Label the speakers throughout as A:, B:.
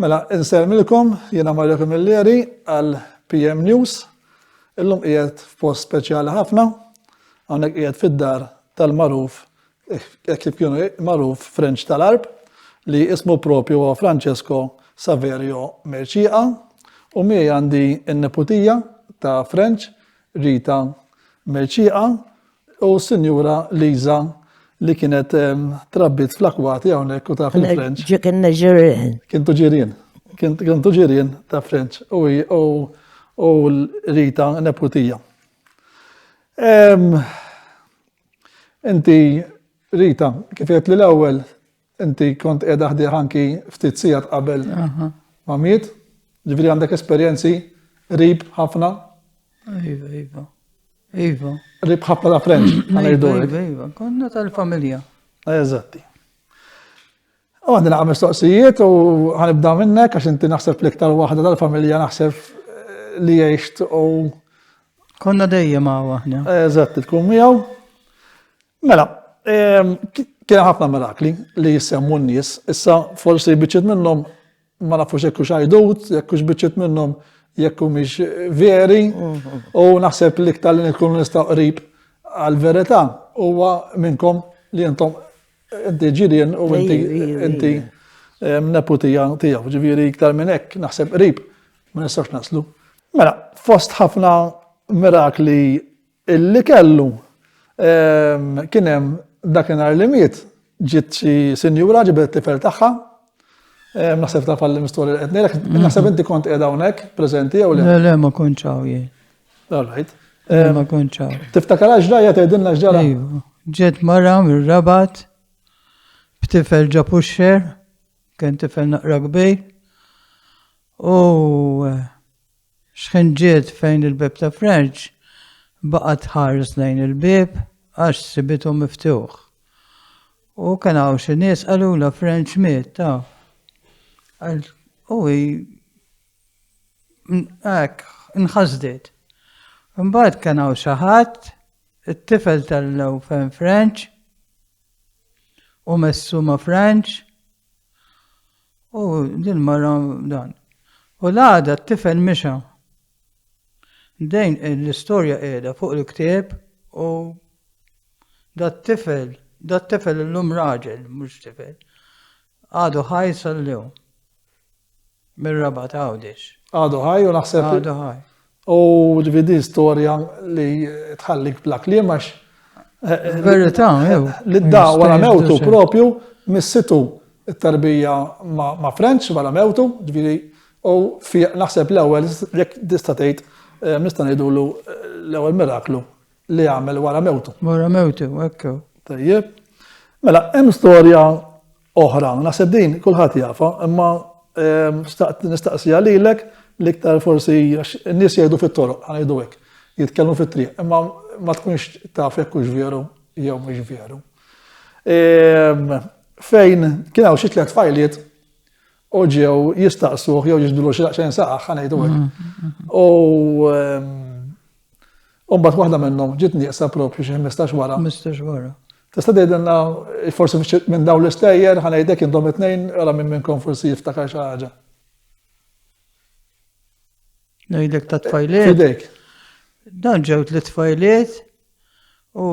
A: Mela, insellmilkom, jiena Mario Camilleri għal PM News. Illum qiegħed f'post speċjali ħafna, hawnhekk qiegħed fid-dar tal-magħruf hekk kif kienu magħruf Frenċ tal-Arb li ismu propju huwa Francesco Saverio Merċiqa u mi għandi n-neputija ta' Frenċ Rita Merċiqa U s-Sinjura Liza li kienet trabbit fl-akwati hawnhekk u ta' fil-Frenċ. Kien ġirien.
B: Kien tuġirien.
A: Kien tuġirien ta' Frenċ u Rita neputija. Inti Rita, kif li l-ewwel Inti kont qiegħda ħdieh anki ftit sigħat qabel ma miet, ġifieri għandek esperjenzi qrib ħafna. Iva, iva.
C: Iva. Qrib ħafna ta' friend,
A: ngħidu. Iva, iva, iva, konna
C: tal-familja. Eżatti.
A: U għandi naqqa mistoqsijiet u ħanibda minnek għax inti naħseb l-iktar waħda tal-familja naħseb eh, li jgħixt u. Konna
C: dejjem għaw aħna. Eżatt, tkun miegħu.
A: Mela, ehm, kien ħafna mirakli li jissemmu n-nies, issa forsi biċċiet minnhom ma nafux jekk hux għajdut, jekk hux biċċiet minnhom jekk mhix veri, mhm. u naħseb li iktar li nkunu nistgħu qrib għal-verità huwa minnkom li intom inti ġirien u inti inti ehm, neputija tiegħu, ġifieri iktar minn hekk naħseb qrib ma nistax naslu. Mela, fost ħafna mirakli Illi kellu. Kien hemm dakinhar li miet, ġiet xi sinjura ġibdet it-tifel tagħha. Naħseb taf għall istorja li qed ngħidlek, naħseb inti kont qiegħda hawnhekk preżenti jew le? Le, le, ma kontx hawn
C: jien. All right.
A: Ma kontx
C: hawn. Tiftakar għax ġrajja tgħidilna
A: x'ġara? Iva. Ġiet
C: mara mir-rabat b'tifel ġa puxxer, kien tifel naqra kbir, u Xħinġiet fejn il-bieb ta' Frenċ baqgħet tħares lejn il-bieb għax sibitu miftuħ. U kien hawn xi nies qalulha Frenċ miet taf. U hi hekk nħasdet. Imbagħad kien hawn xi ħadd it-tifel tal-lew fejn Frenċ u messu ma' Frenċ U din mara dan. U l-għada t-tifel mixa. Dejn l-istorja qiegħda fuq il-ktieb u dat tifel, dat tifel illum raġel, mhux tifel. Għadu ħaj sal-lum. Mir-raba ta' għawdex. Għadu ħaj u naħseb.
A: Għadu ħaj.
C: U ġifi
A: din storja li tħallik bla kliem għax. Verità,
C: jew. Li da wara
A: mewtu propju missitu it-tarbija ma' French wara mewtu, ġifi u fi naħseb l-ewwel jekk tista' tgħid eh, nista' ngħidulu eh, l-ewwel miraklu li għamel wara mewtu. Wara mewtu,
C: ekku. Tajjeb.
A: Mela, hemm storja oħra. Naħseb din kulħadd jafha, imma staqt nistaqsija lilek l-iktar forsi għax in-nies jgħidu fit-toroq, ħanajdu hekk, jitkellmu fit-triq, imma ma tkunx taf jekk hux veru jew mhux veru. Fejn kien hawn xi tliet fajliet u ġew jistaqsuh jew jiġdulu xi daqsxejn saqaħ ħa ngħidu hekk. Mm-hmm. U ehm, mbagħad waħda minnhom ġiet nieqsa propju xi 15 wara. 15 wara.
C: Tista' tgħidilna
A: forsi minn dawn l-istejjer ħa ngħidek intom it-tnejn ara minn minnkom forsi jiftakar xi ħaġa.
C: Ngħidek ta' tfajliet. Fidejk.
A: Dan
C: ġew tliet tfajliet u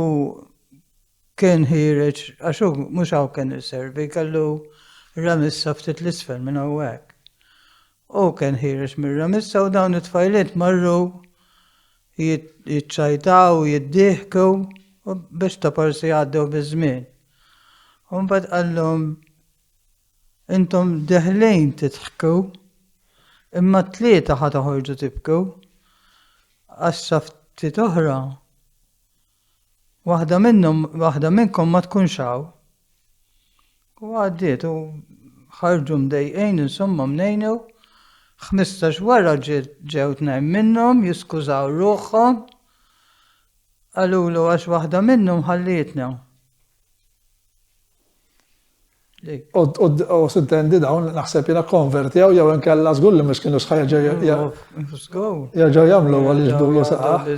C: Kien ħiereġ, għax hu mhux hawn kien iservi, kellu ramissa ftit 'l isfel minn hawnhekk. Hu kien ħiereġ mir-ramissa u dawn it-tfajliet marru jiċċajtaw, jiddieħku biex ta' forsi jgħaddew biż-żmien. U mbagħad qallhom, Intom deħlejn tidħku, imma t-tlieta ħa toħorġu tibku, għax sa ftit oħra Waħda minnhom, waħda minnkom ma tkunx hawn. U għaddiet u ħarġu mdejqin insomma mnejnew. Ħmistax wara ġew tnejn minnhom jiskużaw ruħhom. Qalulu għax waħda minnhom ħallietna.
A: U sintendi dawn naħseb jiena konvertjaw jew inkella żgur li mhux kienu sħajja jerġgħu jagħmlu għal jiġdulu saqaħ.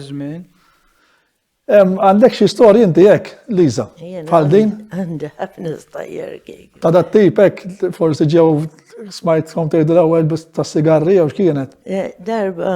A: Għandek xi storja inti hekk, Liza, bħal din? Għandi ħafna
B: storja kik. Ta' dat tip hekk
A: forsi ġew smajt kom tgħidu l-ewwel biss tas-sigarri jew x'kienet? Darba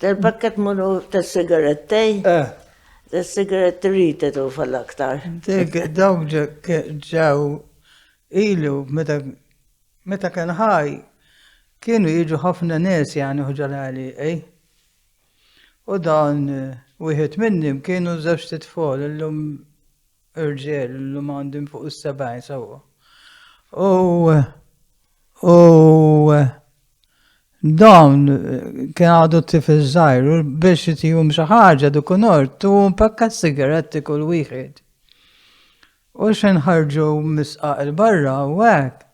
B: Tal-pakkett magħruf tas-sigarettej? Eh. Tas-sigaretti rita tufa l-aktar. Dik dawk
C: ġew ilu meta meta kien ħaj kienu jiġu ħafna nies jagħni ħuġa l-għali, ej. U dan wieħed minnhom kienu żewġ titfol illum Irġiel illum għandhom fuq is-70 sewwa. U u dawn kien għadu tifel żgħir u biex itihom xi ħaġa dik unor tu pakka sigaretti kull wieħed. U xejn ħarġu misqaq il-barra u hekk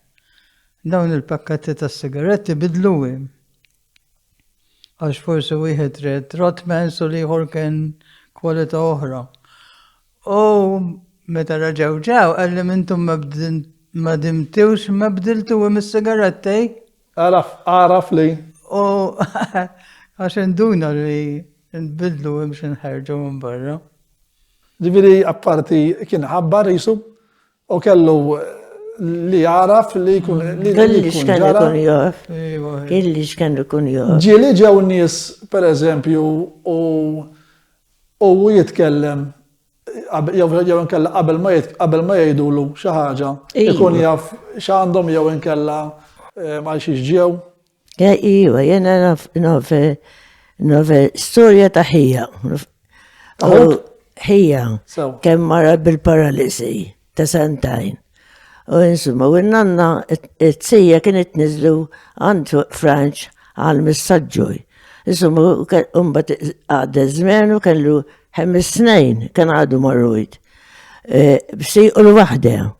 C: dawn il-pakketti tas-sigaretti bidluhom. Għax forsi wieħed red Rotmans u l-ieħor kien kwalità oħra. U meta raġaw ġew qalli mintum ma dimtiwx ma bdiltu hemm is-sigarettej. Għaraf,
A: għaraf li. U
C: għax induna li nbidlu hemm xi nħerġu minn barra. Ġifieri
A: apparti kien ħabbar jisu U kellu li jaraf li jkun li kelli x'kan ikun
B: jaf. Kelli x'kan ikun jaf. Ġieli ġew nies
A: pereżempju u u jitkellem jew inkella qabel ma qabel ma jgħidulu xi ħaġa ikun jaf x'għandhom jew inkella eh, ma xiex ġew. Ja, iwa,
B: jena naf, naf, naf, storja ta' ħija. Ħija, kem mara bil-paralisi ta' santajn. U insumma, u nanna t-sija kienet nizlu għand Franċ għal missagġuj. Insumma, umbat għadda zmen u kellu ħemis snejn, kien għadu marrujt. E, Bsi u l-wahda.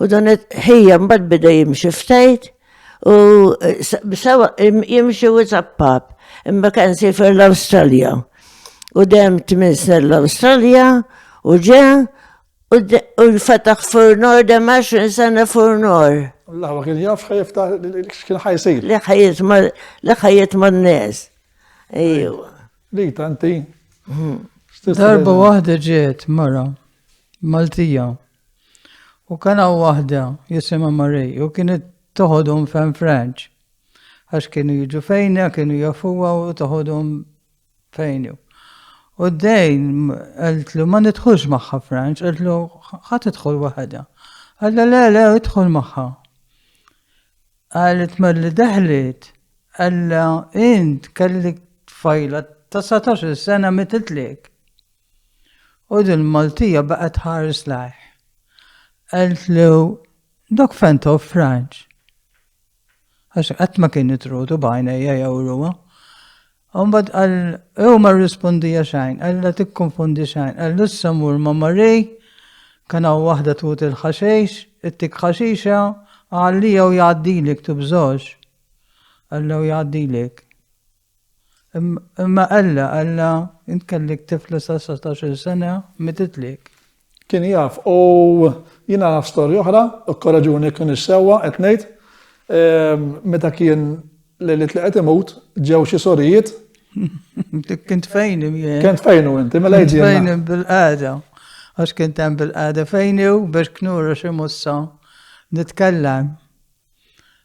B: U dan ħija mbagħad bida jimxi ftajt u sewa jimxi u zappab. Imma kien sifer l-Awstralja. U dem tmin snin l-Awstralja u ġe u fetaħ furnor dem 20 sena furnor. Allah ma kien jaf
A: ħajftaħ kien ħajsir. Li ħajiet ma
B: li ħajiet ma n-nies. Ejju. Li tanti.
C: Darba waħda ġiet mara Maltija. U kien hawn waħda jisimha Marie u kienet toħodhom f'Hemm Franċ. Għax kienu jiġu fejna, kienu jafuha u toħodhom fejnu. U d-dejn għaltlu ma nidħulx magħha Franċ, għaltlu ħadd idħol waħedha. Għalla le le idħol magħha. Għalet malli deħlet, għalla int kellek tfajla ta' 17 sena mititlek. U din Maltija baqgħet tħares lajh. Qaltlu, Dak fejn taw Franġ? Għax qatt ma kien itrutu b'għajnejja jew ruha. Umbad għal, ew ma rispondija xajn, għalla tikkonfondi xajn, għal issa mur ma marri, kana wahda tut il-ħaxix, it-tik ħaxixa, għalli jew jgħaddilek tubżox. Għalla u jgħaddilek. Imma Alla, Alla, int kellek tifla sa' satax-il sena, mititlik. Kien jaf
A: u jiena naf storja oħra, ikkoraġuni jekk m'iniex sewwa qed ngħid, meta kien lejliet li qed imut, ġew xi sorijiet. Dik
C: kien tfejni miegħi. Kien tfejnu inti, mela
A: jġi. Tfejni bil-qagħda.
C: Għax kien hemm bil-qagħda fejni u biex knura xi mussa nitkellem.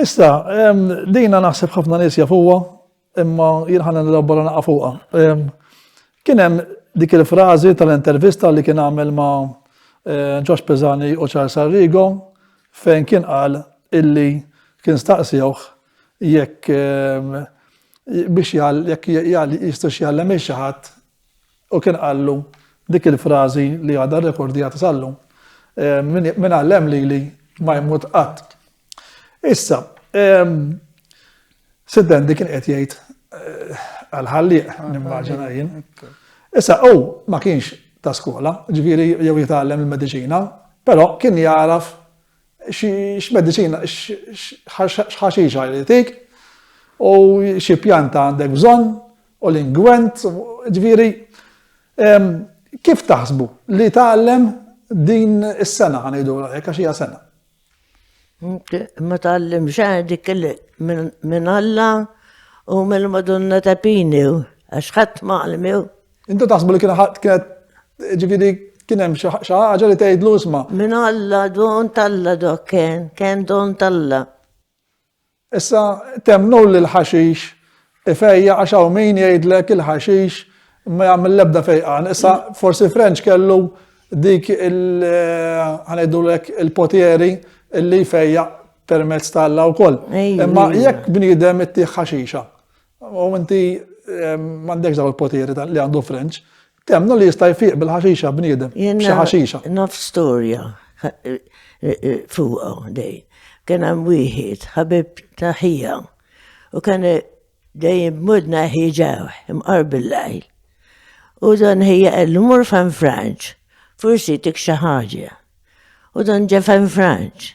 A: Issa, dina naħseb ħafna nies jafuha, imma jien ħana nilabora naqa' fuqha. Kien hemm dik il-frażi tal-intervista li kien għamel ma' Ġox eh, Pezani u Charles Arrigo fejn kien qal illi kien staqsewh jekk biex jekk jistax jgħallem xi ħadd U kien qallu dik il-frażi li għadha rrekordjata sal-lum, Min għallem lili ma jmut qatt. Issa, Siddendi kien qed jgħid eh, għal-ħallieq, nimmaġina jien. Issa, u ma kienx ta' skola, ġviri jew jitgħallem il-medicina, però kien jaraf x-medicina, x-ħaxixa jritik, u xie pjanta għandek bżon, u l-ingwent, ġifieri kif taħsbu li tgħallem din is-sena ħanejdu hekk għax hija sena?
B: Ma tgħallem xejn dik minn Alla u mill-Madonna ta' Pini għax ħadd ma għalmew. Intu taħsbu li
A: kienet ġifieri kien hemm xi ħaġa li tgħidlu isma'. Min Alla
B: don talla dok kien, kien don talla.
A: Issa temnu li l-ħaxix ifejjaq għax hawn min jgħidlek il-ħaxix ma jagħmel l-ebda fejqan. Issa forsi Frenċ kellu dik il ħa ngħidulek il-potieri li jfejjaq permezz ta' Alla wkoll. Imma jekk bniedem ittih ħaxixa u inti m'għandekx dawn il-potieri li għandu Frenċ, Temmnu li jista' jfiq bil-ħaxixa bniedem, b'xi ħaxixa. Naf storja
B: fuqha dej. Kien hemm wieħed ħabib ta' ħija u kien dejjem mudna ħiġaw imqar bil-lajl. U dan ħija qal mur fan Franċ, forsi tik xi ħaġa. U dan ġa fan Franċ.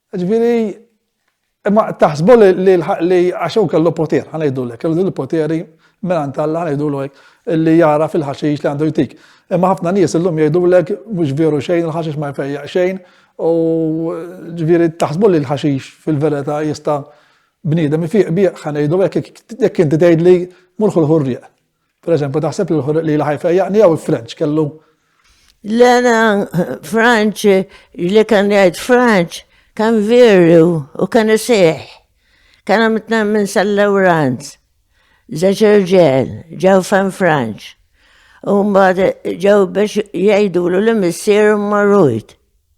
B: Ġifieri,
A: imma taħsbu li għax hu kellu poter, ħa ngħidulek, kellu din il-poteri mingħand Alla ngħidulu hekk, li jara fil-ħaxix li għandu jtik. Imma ħafna nies illum jgħidulek mhux veru xejn, il-ħaxix ma jfejjaq xejn, u ġifieri taħsbu li l-ħaxix fil-verità jista' bniedem ifiq bih, ħa ngħidu hekk, jekk inti tgħidli mur ħu l-ħurrieq. Per eżempju, taħseb li l-ħorriq li l-ħaj fejjaqni jew il-Frenċ kellu? L-għana
B: Franċ, li kan jgħid Franċ, kan veru u kan iseħ. Kan għamitna minn sal-Lawranz, zaċerġel, ġaw fan Franċ. U mbagħad ġew biex jgħidulu li missier marrujt.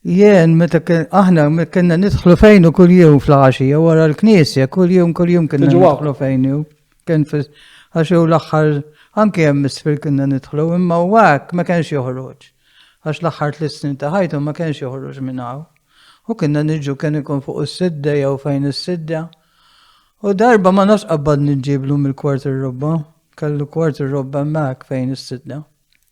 C: Jien, meta aħna kienna nidħlu fejnu kull jum fl-għaxija wara l-knisja, kull jum kull jum kienna nidħlu fejnu. Kien għax jew l-aħħar anke hemm isfel kienna nidħlu, imma u għak ma kienx joħroġ. Għax l-aħħar tliet snin ta' ħajtu ma kienx joħroġ minn hawn. U kienna niġu kien ikun fuq is-sidda jew fejn is-sidda. U darba ma nafx qabbad nġiblu mill-kwart ir-robba, kellu kwart ir-robba hemmhekk fejn is-sidda.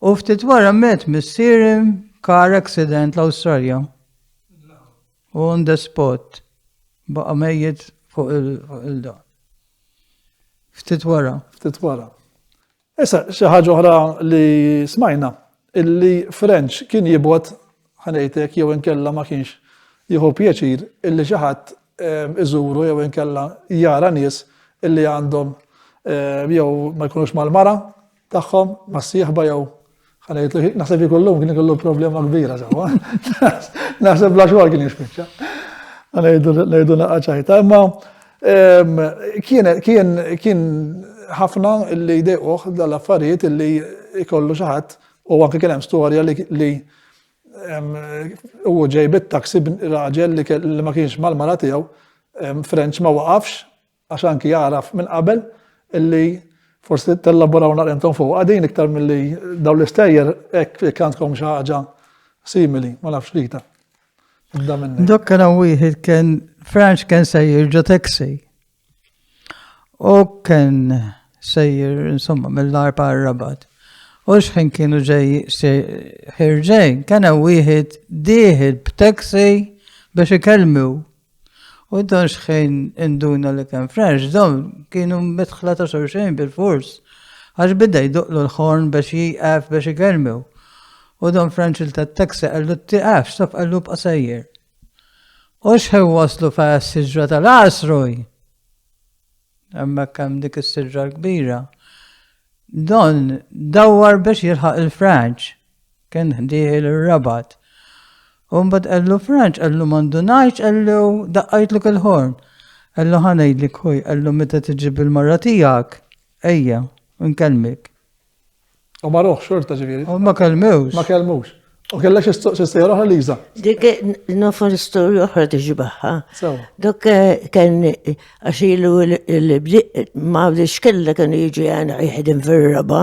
C: U ftit wara met missieri car accident l-Awstralja. U on the spot. Baqa mejjed fuq il-dan. Ftit wara. Ftit wara.
A: Issa, xi ħaġa oħra li smajna, illi French kien jibgħod ħanejtek jew inkella ma kienx jieħu pjaċir illi xi ħadd ehm, iżuru jew inkella jara nies illi għandhom ehm, jew ma jkunux mal-mara tagħhom mas-sieħba jew ħana jitlu naħseb ikollhom kien ikollu problema kbira sewwa. Naħseb bla xogħol kien jispiċċa. Għana jgħidu naqqa ċajta, imma kien ħafna li jdejquh dal-affarijiet li jkollu xi ħadd u anke kien hemm storja li u ġej bit-taksi raġel li ma kienx mal-mara tiegħu Frenċ ma waqafx Għax anki jagħraf minn qabel illi forsi tellaboraw naqra intom fuqha din iktar milli dawn l-istejjer hekk jekk għandkom xi ħaġa simili, ma nafx Rita.
C: Dok kien hawn wieħed kien Franċ kien sejjer ġo taxi. U kien sejjer insomma mill-arba rabat. U xħin kienu ġej ħirġej, kena wieħed diħed b'taxi biex ikellmu U dan xħejn induna li kien French, dawn kienu mitħla ta' xorxejn bil-fors. Għax bidda jduqlu l-ħorn biex jieqaf biex igermew. U dan French il-tat-taxi għallu t-tiqaf, stop għallu b'qasajjer. U xħejn waslu fa' s-sidra tal-asruj. Għamma kam dik s-sidra l-kbira. Don dawar biex jilħaq il-French. Kien dieħel ir-Rabat. U mbagħad qallu Franċ, qallu ma ndunajtx, qallu daqqajtlu il-ħorn. Qallu ħa ngħidlik ħuj, qallu meta tiġi bil-mara tiegħek, ejja, nkellmek.
A: U ma ruħ xorta ġifieri. U ma kelmewx. Ma
C: kelmux.
A: U kellek xi sejra oħra Liża. Dik
B: nofar storja oħra tiġi baħħa. Dok
A: eh,
B: kien eh, għax ilu l-bdiq ma bdiex kellek kienu jiġi għana jħedem fir-raba.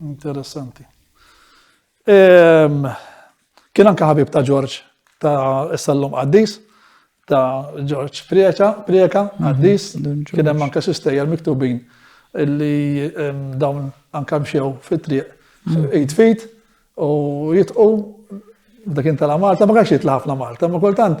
B: Interessanti.
A: Ehm, kien anka ħabib ta' Ġorġ ta' s-sallum qaddis ta' Ġorġ Prieka, Prieka, mhm, qaddis, kien hemm anka sistejja miktubin illi ehm, dawn anka mxew fit-triq mhm. id fit u jitqu dak inta la Malta, ma kax jitla ħafna Malta, ma kultant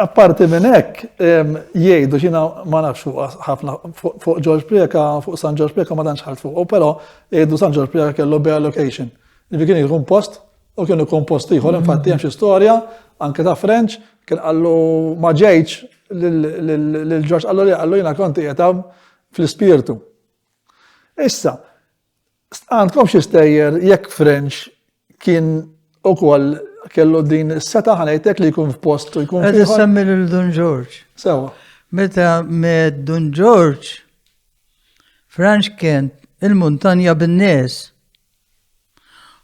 A: Apparti minn hekk, jgħidu xina ma nafx fuq ħafna fuq George Prieka, fuq San George Prieka ma tantx ħart fuq, però jgħidu San George Prieka kellu bare location. Li kien jkun post u kien ikun post ieħor, infatti hemm xi storja anke ta' French kien qallu ma ġejġ lil George qallu li qallu jiena kont qiegħed fl-ispirtu. Issa, Għandkomx istejjer jekk French kien ukoll kellu din is-seta ħanejtek li jkun f'post u jkun. Qed semmi lil Dun
C: George. Sewa.
A: Meta
C: med Dun George, Franċ kien il-muntanja bin-nies.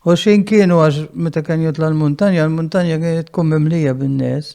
C: U xin kienu għax meta kien jitla l-muntanja, l-muntanja kienet tkun mimlija bin-nies.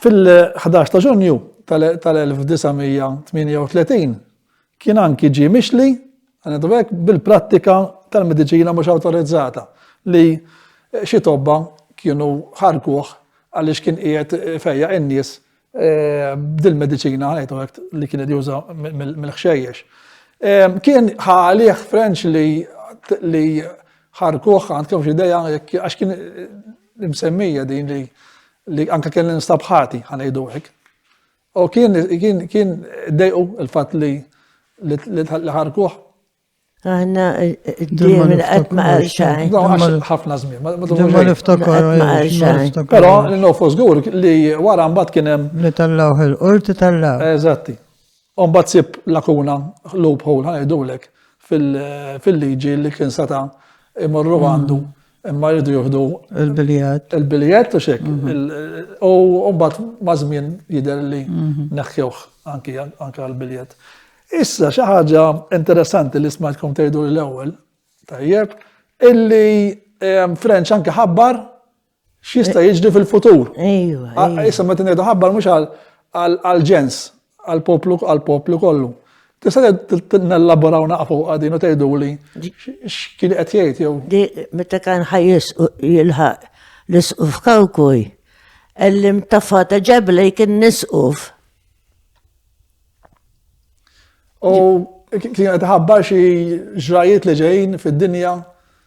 A: Fil-11 ta' Ġunju tal-1938 kien anki ġie mixli bil-prattika tal-mediċina mhux awtorizzata li xi tobba kienu ħarrkuh għaliex kien qiegħed ifejjaq in-nies b'dil-mediċina li kien qed juża mill-ħxejjex. Kien ħa għalih Frenċ li ħarrkuh għandkom xi idea għax kien imsemmija din li li anke kien instab ħati, ħa ngħidu hekk. U kien kien kien dejqu il-fatt li li ħarkuh.
B: Aħna d-diem il-qed ma qal xejn. Ħafna żmien,
A: ma niftakar.
C: Però
A: l-nofu żgur li wara mbagħad kien hemm. Li tallaw il-qorti
C: tallaw. Eżatti.
A: U mbagħad ssib lakuna, loophole ħa ngħidulek, fil-liġi li kien seta' imorru għandu imma jridu juhdu il-biljett. Il-biljett u xek. Mhm. U mbagħad ma' żmien jidher li mhm. neħħewh anki għall-biljett. Issa xi ħaġa interessanti li smajtkom tgħidu l-ewwel, tajjeb, illi French anke ħabbar X'jista' jiġri fil-futur? Ejwa. Ah, ejwa. Issa
B: meta ngħidu ħabbar
A: mhux għall-ġens, għall-poplu għall-poplu kollu. Tista' nellaboraw naqfu għadin u tgħidu li x'kien qed jgħid jew. Di meta kan
B: ħajjis jilħaq l-isquf kawkuj, ellim tafata ġebla jkien nisquf.
A: U kien qed ħabbar xi ġrajiet li ġejjin fid-dinja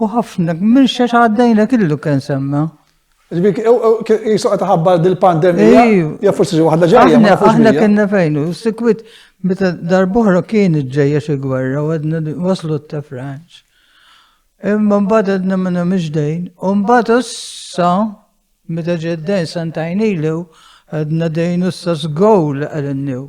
C: U ħafna, minn xax għaddejna killu kien semma. Ġbik,
A: jisoqa taħabba dil-pandemija, ja forsi ġi waħda ġajja. Aħna kienna fejnu, sikwit,
C: meta darbohra kien ġejja xi gwerra, u għedna waslu ta' Franċ. Imma mbagħad għedna minna miġdejn, u mbagħad issa, meta ġeddejn santajnilu, għedna dejn issa zgowl għal-new.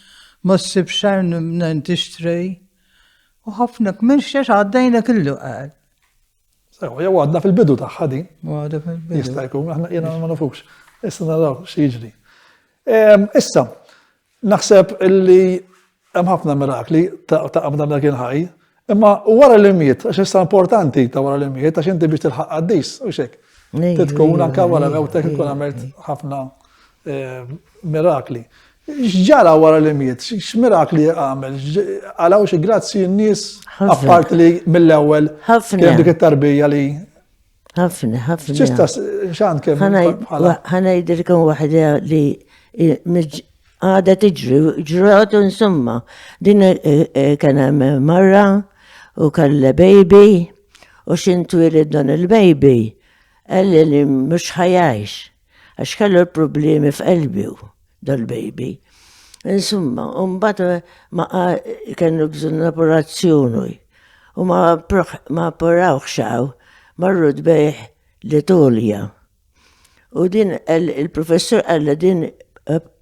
C: Ma ssib xejn mnejn tixtri u ħafna kmixxex għaddejnek il-luqal. Sewa,
A: jew għadna fil-bidu tagħha din. Għadha fil-bidu. Jista'
C: jkun, aħna jiena
A: ma nafux. Issa naraw xi jiġri. Ehm, issa, naħseb li hemm ħafna mirakli ta' qabda minn kien ħaj, Imma wara li miet, għax issa importanti ta' wara li miet, għax inti biex tilħaq qaddis, u xek. Titkun anka wara mewtek ikun għamilt ħafna eh, mirakli. X'ġara wara li miet? X'mirakli għamel? Għalaw xi grazzi n-nies apparti li mill-ewwel kien dik it-tarbija li ħafna,
B: ħafna. Ċista,
A: xan kem. ħana jidir
B: kem wahda li għada tiġri, ġrat insomma. Din eh, eh, kien hemm marra u kalle baby u xintwilid dan il-baby. Għalli li mux ħajajx. Għax kellu l-problemi f'qelbi dal-baby. Insumma, umbat eh, ma kellu bżon l-operazzjoni u ma apporawx xaw marru dbejħ l-Italja. U din il-professur għalla din eh,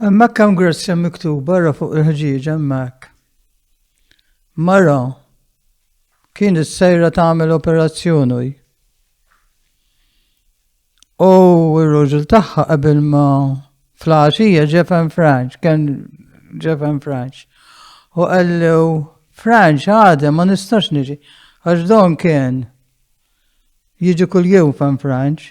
C: Hemmhekk hemm grazzja miktuba ra fuq il-ħġieġ hemmhekk. Mara kienet sejra tagħmel operazzjoni. U r-raġel tagħha qabel ma fl-għaxija ġefen Franċ, kien ġefen Franċ. U qallu Franċ għadem ma nistax niġi, għax don kien jiġi kull jum fan Franċ.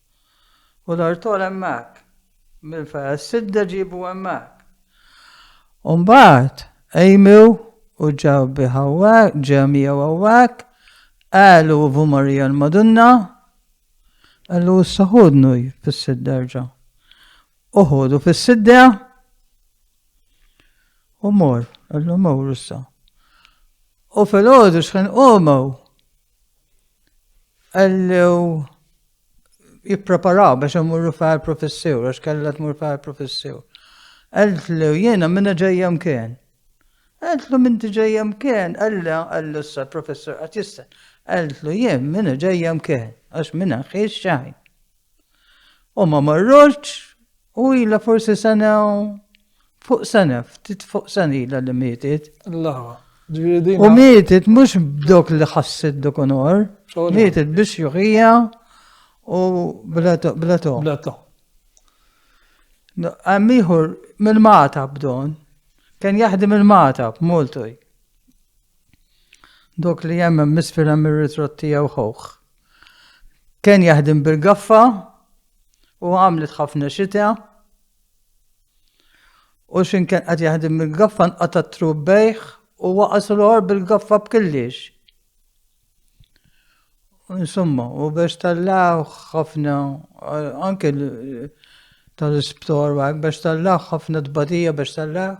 C: U l-artol hemmhekk. Mill-Feqes Sidda ġiebu hemmhekk. U mbagħad qejmu u ġew bih hawnhekk, ġew miegħu hawnhekk, qegħlu u Marija l-Madonna, qallu issa ħudnu fis-Sidda erġa'. U ħodu fis-Sidda u mor, qallu mur issa. U filgħodu xħin qomu Għallew jippreparaw biex imurru fa' professur, għax kellha tmur fa' professur. Għallew jiena minna ġejja mkien. Għallu minn ġejja mkien, għalla għallu sa' professur għat jista. Għallu jien minna ġejja mkien, għax minna xiex xajn. U ma marrotx u ila forsi sena fuq sena, ftit fuq sena ila li mietet. Lawa.
A: U
C: mietet mux b'dok li ħasset dok onor, mietet biex juħija u blato. Blato. Blato. Għammiħor minn mata b'don, kien jaħdim il-mata b'Moltoj. Dok li hemm hemm isfel hemm ir-ritratt tiegħu ħuħ. Kien jaħdem bil-gaffa u għamlet ħafna xita. U xin kien qed jaħdem bil-gaffa nqata' trub bejħ u waqas l-or bil-gaffa b'killiex. Insomma, u biex tallaw ħafna, anke tal-isptor għak, biex tallaw ħafna tbadija biex tallaw,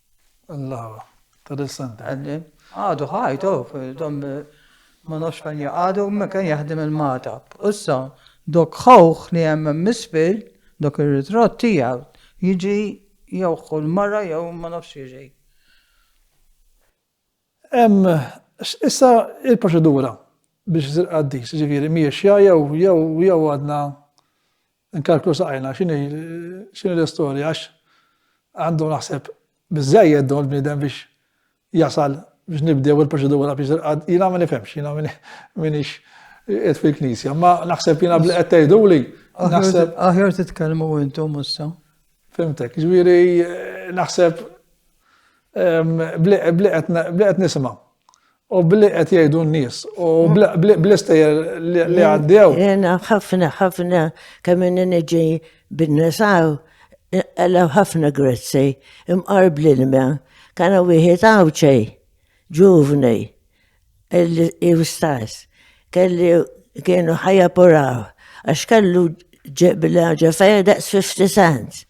C: Allawa,
A: ta' dil-santa. Għaddim, għadu
C: ħajt, oh, dom ma nafx fejn jgħadu, ma kien jaħdim il-matab. Issa, dok ħawħ li hemm misfil, dok ir-ritratt tiegħu, jiġi jew ħu l-mara jew ma nafx jiġi.
A: Hemm issa il-proċedura biex isir qaddis, jiġifieri mhijiex xja jew jew jew għadna nkalklu saqajna x'inhi x'inhi l-istorja għax għandu naħseb biżejjed dawn il-bniedem biex jasal biex nibdew il-proċedura biex il-qad, jina ma nifemx, jina minix qed fil-knisja, ma naħseb jina bli qed tgħidu li. Naħseb. Aħjar titkellmu
C: intom issa. Fimtek,
A: ġviri naħseb B'li qed nisimgħu. U b'li qed jgħidu n-nies. U bl-istejjer li għaddew. Jena ħafna
B: ħafna kemm inni niġi bin-nisaw għalaw ħafna grezzi imqarb l-ilma. Kana wieħed għawċej, ġuvni, illi jistess. Kelli kienu ħajja puraw. Għax kellu ġebla ġefeja daqs 50 cents.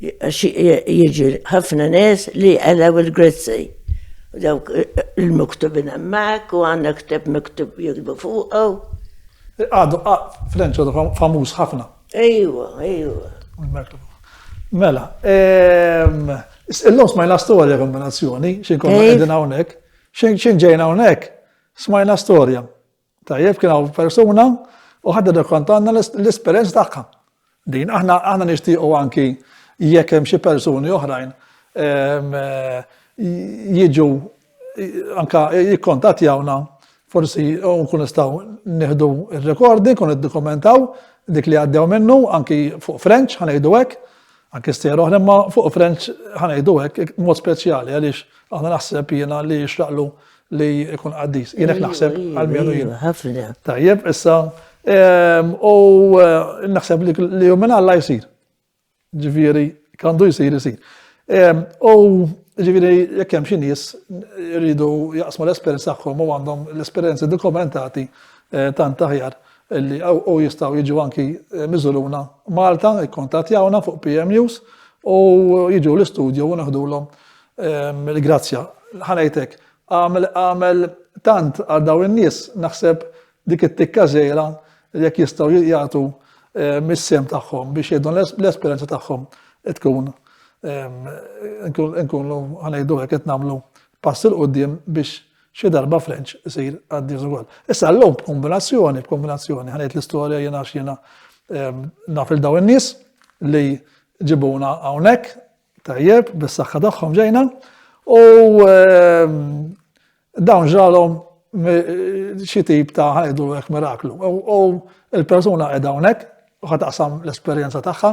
B: Jiġi ħafna nies li jqalgħu il-grizzej. U dawk il-miktubin hemmhekk u għandna ktieb miktub jiktbu fuqu. Għadu
A: Frenċ għadu famuż ħafna. Ejwa,
B: ejwa.
A: Mela, illum smajna storja kombinazzjoni, xi nkunu qegħdin hawnhekk, xi ġejna hawnhekk, smajna storja. Tajjeb kien hawn persuna u ħadda dekkontanna l-esperjenza tagħha. Din aħna aħna nixtiequ anki jekk hemm xi persuni oħrajn ehm, jiġu anka jikkontattjawna forsi nkun nistgħu nieħdu r-rekordi, kun iddokumentaw dik li għaddew minnu anki fuq French ħanejdu hekk Anke stejjer oħra, imma fuq French ħa ngħidu hekk mod speċjali għaliex aħna naħseb jiena li jixraqlu li jkun qaddis. Jien hekk naħseb għal minu jien. Ħafna. Tajjeb,
B: issa
A: ehm, u eh, naħseb li jum minn Alla jsir. Ġifieri kandu jsir isir. Ehm, u ġifieri jekk hemm xi nies jridu jaqsmu l-esperjenza tagħhom u għandhom l-esperjenzi dokumentati eh, tant aħjar li u jistgħu jiġu anki miżuluna Malta, ikkontattjawna fuq PM News u jiġu l-istudju u naħdulhom il-grazzja. Ħanajtek, għamel tant għal daw in-nies naħseb dik it-tikka żgħira jekk jistgħu jagħtu mis-sem tagħhom biex jgħidu l-esperjenza tagħhom tkun nkunu ħanejdu hekk qed nagħmlu pass il qudiem biex Xi darba Frenċ isir għaddiż ukoll. Issa llum b'kombinazzjoni, b'kombinazzjoni, ħanejt l-istorja jiena għax jiena ehm, naf il dawn in-nies li ġibuna hawnhekk tajjeb bis-saħħa tagħhom ġejna u ehm, dawn ġralhom xi tip ta' ħajdu hekk miraklu. U l-persuna qiegħda hawnhekk u ħataqsam l-esperjenza tagħha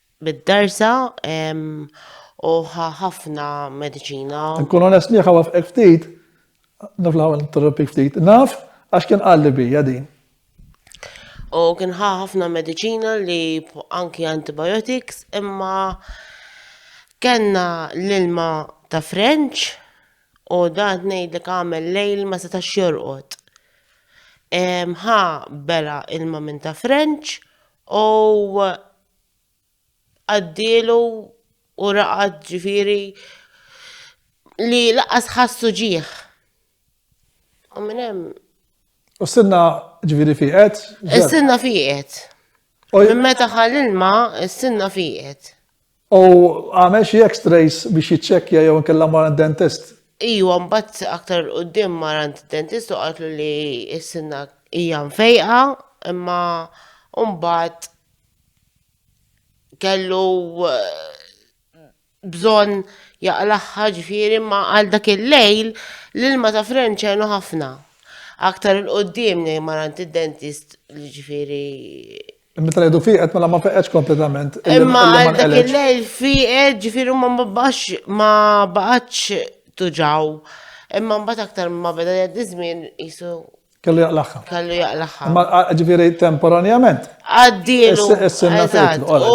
D: bid-darsa u ħa ħafna mediċina. Nkun onest miegħek
A: ħawafqek ftit, naf l interrompik ftit, naf għax kien qalli bija din.
D: U kien ħa ħafna mediċina li anki antibiotics imma kenna l-ilma ta' French u dan ngħidlek għamel lejl ma setax jorqod. Ħa bela ilma minn ta' French u għaddielu u raqad ġifiri li laqas ħassu ġieħ. U minn hemm. U s-sinna
A: ġifiri fiqet? Is-sinna fiqet.
D: Minn meta ħal ilma, is-sinna fiqet. U
A: għamel xi x-rays biex jiċċekkja jew nkella mara dentist? Iju, mbagħad
D: aktar qudiem mara dentist u qaltlu li s-sinna hija mfejqa, imma mbagħad kellu eh, bżonn jaqlaħħa ġifieri ma għal dak il-lejl l-ilma ta' frenċenu ħafna. Aktar il-qoddim li marant id-dentist li ġifieri Meta
A: ngħidu fiqet mela ma feqetx kompletament. Imma għal dak
D: il-lejl fiqet ġifieri ma babax ma baqgħatx tuġaw. Imma mbagħad aktar ma beda jgħaddi żmien qisu Kellu jaqlaħħa.
A: Kellu jaqlaħħa. Ma
D: ġifiri
A: temporanjament. Għaddilu.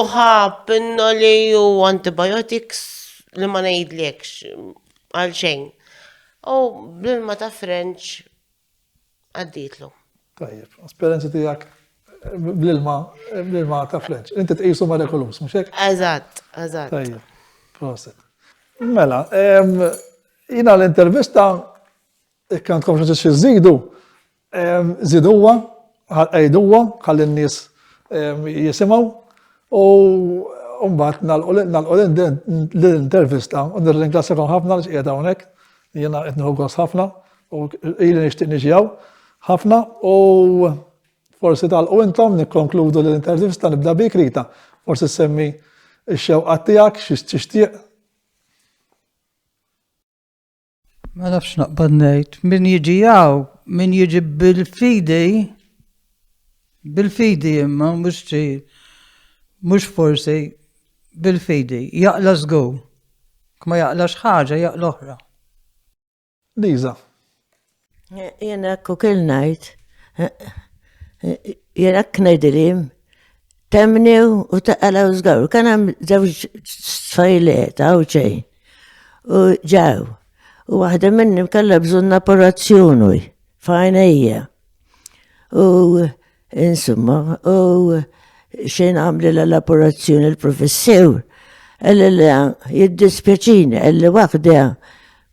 A: Uħa, pinno
D: li ju antibiotics li ma nejdlekx għal xejn. U bl-ilma ta' French għadditlu. Tajjeb,
A: esperienza tijak bl-ilma, bl-ilma ta' French. Inti t-qisu ma' rekolus, mux hekk? Eżatt, eżatt.
D: Tajjeb,
A: proset. Mela, jina l-intervista Jekk għandkom xi xi żidu, żiduha, qegħduha ħalli n-nies jisimgħu u mbagħad nagħlqu l-intervista u nirringrazzjakom ħafna li qiegħda hawnhekk. Jiena qed nieħu gost ħafna u ili nixtieq niġi hawn ħafna u forsi tagħlqu intom nikkonkludu l-intervista nibda bik Rita. Forsi semmi x-xewqat tiegħek xi tixtieq
C: Ma nafx naqbad ngħid, min jiġi jaw, min jiġi bil-fidi, bil-fidi imma mhux xi mhux forsi bil-fidi, jaqla żgur. Kma jaqlax ħaġa jaqla oħra. Liza,
B: Jien hekk ukoll ngħid. Jien hekk ngħidili temni u taqala u żgaru. Kan hemm żewġ tfajliet hawn xejn. U ġew. U waħda minnhom kellha bżonn operazzjoni f'għajnejja. U insomma, u xejn għamli l-operazzjoni l-professur. Għalli li jiddispjaċini, għalli waħda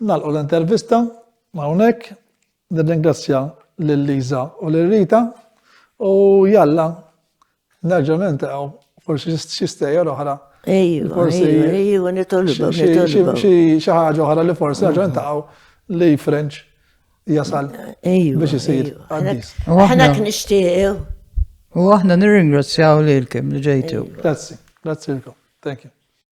A: Nagħlqu l-intervista hawnhekk. Nirringrazzja lil Liża u lil Rita u jalla nerġgħu niltaqgħu forsi xi stejjer oħra. Ejju, forsi
B: ejju nitolbu
A: xi ħaġa oħra li forsi nerġgħu niltaqgħu li French jasal biex isir għaddis. Aħna knixtiequ. U aħna
C: nirringrazzjaw lilkom
B: li
C: ġejtu.
A: Grazzi,
C: grazzi
A: lkom.
C: Thank you.